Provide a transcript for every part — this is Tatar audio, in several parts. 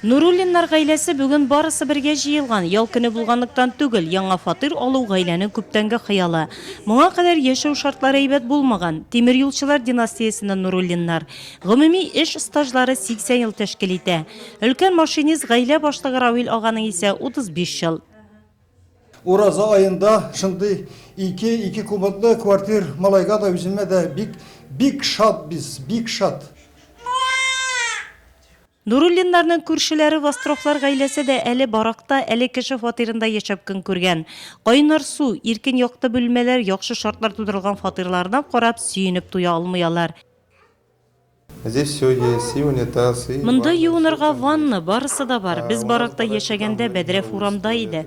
Нуруллиннар гаиләсе бүген барысы бергә җыелган. Ял көне булганлыктан түгел, яңа фатир алу, гаиләнең күптәнге хыялы. Моңа кадәр яшәү шартлары әйбәт булмаган. Тимерьюлчылар династиясеннән Нуруллиннар. Гомуми эш стажлары 80 ел тәшкил итә. Өлкән машинист, гаилә башлыгы Равил аганың исә, 35 ел. Ураза аенда шундый ике, ике куботлы квартир малайга да, үземә дә бик, бик шатбиз, бик шат. Нуруллиннарның күршеләре Востровлар гаиләсе дә әле баракта, әле кеше фатирында яшәп көн күргән. Кайнар су, иркен якты бүлмәләр, яхшы шартлар тудырылган фатирларына карап, сөенеп туя алмый алар. Здесь все есть, и унитаз, и ванна, Монда юынырга ванна, барысы да бар. Без баракта яшәгәндә, бәдрәф урамда иде.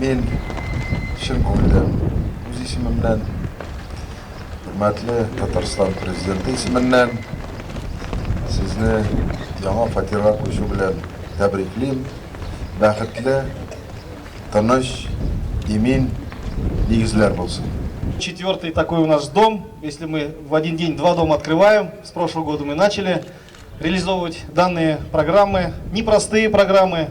Мин чын күңелдән, үз исемемнән, хөрмәтле Татарстан Президенты исеменнән сезне яңа фатирга күчү белән тәбриклим. Бәхетле, тыныч, имин нигезләр булсын. Четвертый такой у нас дом, если мы в один день два дома открываем, с прошлого года мы начали, Реализовывать данные программы, непростые программы.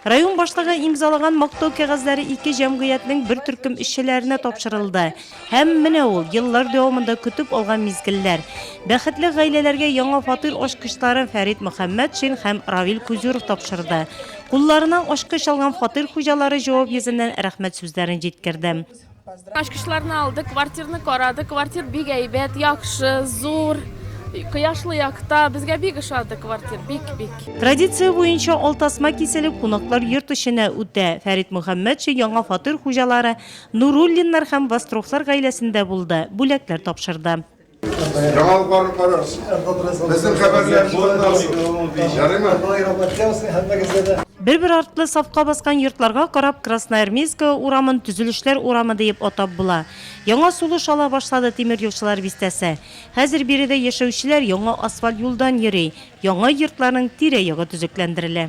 Район башлыгы имзалаган мактау кәгазьләре ике җәмгыятьнең бер төркем эшчеләренә тапшырылды. Һәм менә ул, еллар дәвамында көтеп алган мизгелләр. Бәхетле гаиләләргә яңа фатир ачкычларын Фәрит Мөхәммәтшин һәм Равил Кузюров тапшырды. Кулларына ачкыч алган фатир хуҗалары җавап йөзеннән рәхмәт сүзләрен җиткерде. Ачкычларны алдык, квартирны карадык, квартир бик әйбәт, яхшы, зур, кояшлы якта, безгә бик ошады квартир, бик-бик. Традиция буенча ал тасма киселеп, кунаклар йорт эченә үтә. Фәрит Мөхәммәтшин яңа фатир хуҗалары Нуруллиннар һәм Вострохлар гаиләсендә булды, бүләкләр тапшырды. Яңалыкларны карарсыз. Безнең хәбәрләрне тыңларсыз. Ярыймы? Бер-бер артлы сафка баскан йортларга карап Красноармейская урамын төзелешләр урамы диеп атап була. Яңа сулыш ала башлады тимер юлчылар бистәсе. Хәзер биредә яшәүчеләр яңа асфальт юлдан йөри, яңа йортларның тирә-ягы төзекләндерелә.